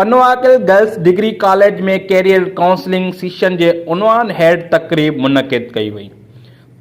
Pano Aqil girls degree college ۾ career counselling session جي عنوان هيٺ تقريب منعقد ڪئي وئي.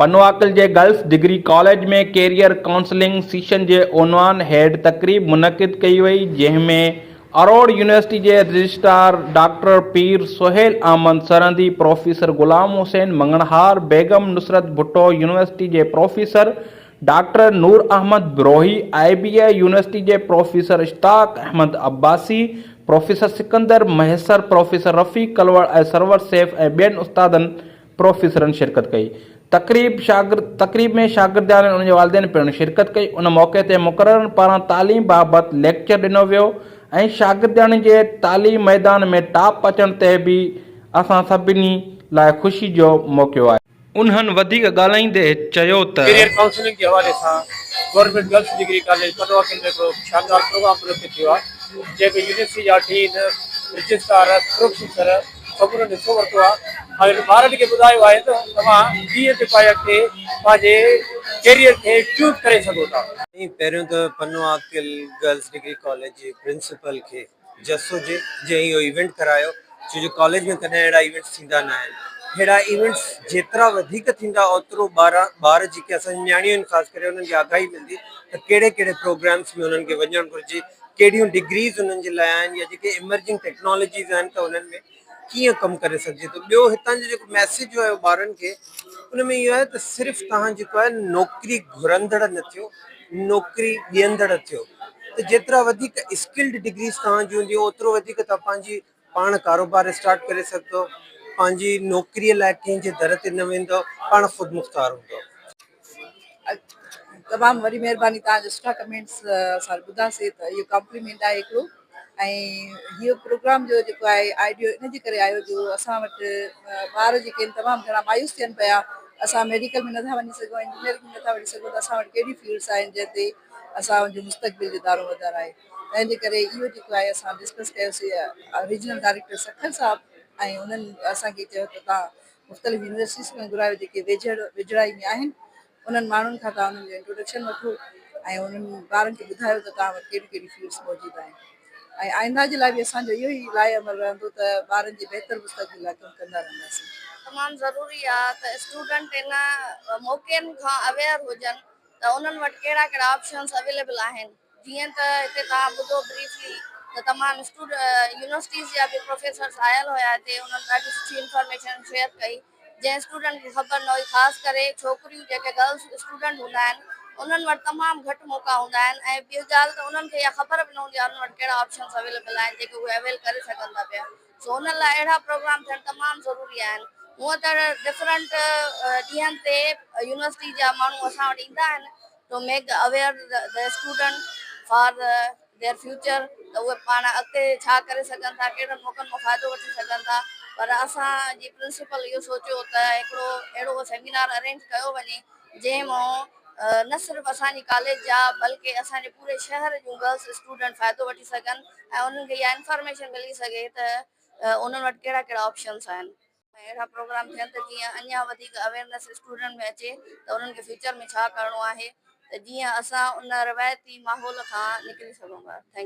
پنواڪل جي girls degree college ۾ career counselling session جي عنوان هيٺ تقريب منعقد ڪئي وئي جنهن ۾ اروڙ يونيورسٽي جي registrar doctor Pir Sohail Ahmed Sirhindi, professor Ghulam Hussain Manganhar, Begum Nusrat Bhutto, university جي professor doctor Noor Ahmed Brohi, I B A university جي professor Ishtiaq Ahmed Abbasi, professor Sikandar Mahesar, professor رفيق ڪلوڙ ۽ سرور سيف ۽ ٻين استادن پروفيسرن شرڪت ڪئي. تقريب شاگرد تقريب ۾ شاگردياڻين انهن جي والدين پڻ شرڪت ڪئي. ان موقعي تي مقررن پاران تعليم بابت ليڪچر ڏنو ويو ۽ شاگردياڻين جي تعليم ميدان ۾ ٽاپ اچڻ تي به اسان سڀني لاء خوشي جو موقعو آهي. انهن وڌيڪ ڳالهائيندي چيو ته. ڪيريئر ڪائونسلنگ جي حوالي سان government girls degree college Panoaqil ۾ هڪڙو شاندار پروگرام منعقد ٿيو آهي جنهن ۾ يونيورسٽي جا ڊين، رجسٽرار، پروفيسر سمورن حصو ورتو آهي ۽ انهن ٻارن کي ٻڌايو آهي ته توهان ڪيئن ٿي پاڻ اڳتي پنهنجي ڪيريئر کي چوز ڪري سگهو ٿا. ۽ پهريون ته پنواڪل گرلس ڊگري ڪاليج جي پرنسپل کي جسو جي جنهن اهو ايونٽ ڪرايو ڇو جو ڪاليج ۾ ڪڏهن اهڙا ايونٽس ٿيندا نه آهن اهڙا ايونٽس جيترا وڌيڪ ٿيندا اوترو ٻار ٻار جيڪي اسان جون نياڻيون آهن خاص ڪري انهن کي آگاهي ملندي ته ڪهڙي ڪهڙي پروگرامس ۾ انهن کي وڃڻ گهرجي ڪهڙيون ڊگريز انهن جي لاء آهن يا جيڪي ايمرجنگ ٽيڪنالاجيز آهن ته انهن ۾ ڪيئن ڪم ڪري سگهجي ٿو ٻيو هتان جو جيڪو ميسج جو آهي ٻارن کي ان ۾ اهو آهي ته صرف توهان جيڪو آهي نوڪري گهرندڙ نه ٿيو نوڪري ڏيندڙ ٿيو ته جيترا وڌيڪ اسڪلڊ ڊگريز توهان جون هونديون اوترو وڌيڪ توهان پنهنجي پاڻ ڪاروبار اسٽارٽ ڪري سگهندو پنهنجي نوڪريء لاء ڪنهن جي در تي نه ويندو پاڻ خود مختار هوندو تمام وڏي مهرباني توهان جو سٺا ڪمينٽس اسان ٻڌا سي ته اهو ڪمپليمينٽ آهي هڪڙو ۽ هيء پروگرام جو جيڪو آهي آئيڊيو ان جي ڪري آيو جو اسان وٽ ٻار جيڪي آهن تمام گهڻا مايوس ٿين پيا اسان ميڊيڪل ۾ نٿا وڃي سگهون انجنيئرنگ ۾ نٿا وڃي سگهون ته اسان وٽ ڪهڙي فيلڊس آهن جنهن تي اسانجو مستقبل جو دارو مدار آهي تنهن جي ڪري اهو جيڪو آهي اسان ڊسڪس ڪيوسي ريجنل ڊائريڪٽر سکر صاحب ۽ انهن اسان کي چيو ته تون مختلف يونيورسٽيز کان گهرايو جيڪي ويجهڙ ويجهڙائي ۾ آهن انهن ماڻهن کان توهان انهن جو انٽروڊڪشن وٺو ۽ انهن ٻارن کي ٻڌايو ته توهان وٽ ڪهڙيون ڪهڙيون فيلڊس موجود آهن ۽ آئنده جي لاء به اسان جو اهو ئي راي عمل رهندو ته ٻارن جي بهتر مستقبل لاء ڪم ڪندا رهنداسين. تمام ضروري آهي ته اسٽوڊنٽ انهن موقعن کان اويئر هجن. ته انهن وٽ ڪهڙا ڪهڙا آپشنز اويليبل آهن جيئن ته هتي توهان ٻڌو بريفلي ته تمام اسٽوڊ يونيورسٽيز جا به پروفيسرز آيل هيا هتي انهن ڏاڍي سٺي انفارميشن شيئر ڪئي جنهن اسٽوڊنٽ کي خبر نه هئي خاص ڪري ڇوڪريون جيڪي گرلز اسٽوڊنٽ هوندا آهن انهن وٽ تمام گهٽ موقعا هوندا آهن ۽ ٻي ڳالهه ته انهن کي اها خبر به نه هوندي آهي انهن وٽ ڪهڙا آپشنز اويليبل آهن جيڪي اهي اويل ڪري سگهن ٿا پيا زونل لاء اهڙا پروگرام ٿيڻ تمام ضروري آهن. هونئن ته ڊفرنٽ ڏينهن تي يونيورسٽي جا ماڻهو اسان وٽ ايندا آهن to make aware the student for their future ته اهي پاڻ اڳتي ڇا ڪري سگهن ٿا ڪهڙن موقعن مان فائدو وٺي سگهن ٿا پر اسان جي پرنسپل اهو سوچيو ته هڪڙو اهڙو سيمينار ارينج ڪيو وڃي جنهن مان نه صرف اسان جي ڪاليج جا بلڪه اسان جي پوري شهر جون گرلس اسٽوڊنٽ فائدو وٺي سگهن ۽ انهن کي اها انفارميشن ملي سگهي ته انهن وٽ ڪهڙا ڪهڙا آپشنس آهن. اهڙا پروگرام ٿين ته جيئن اڃان وڌيڪ اويئرنيس اسٽوڊنٽ ۾ اچي ته انهن کي فيوچر ۾ ڇا ڪرڻو آهي ته جيئن اسان ان روايتي ماحول کان نڪري سگهون ٿا. Thank U.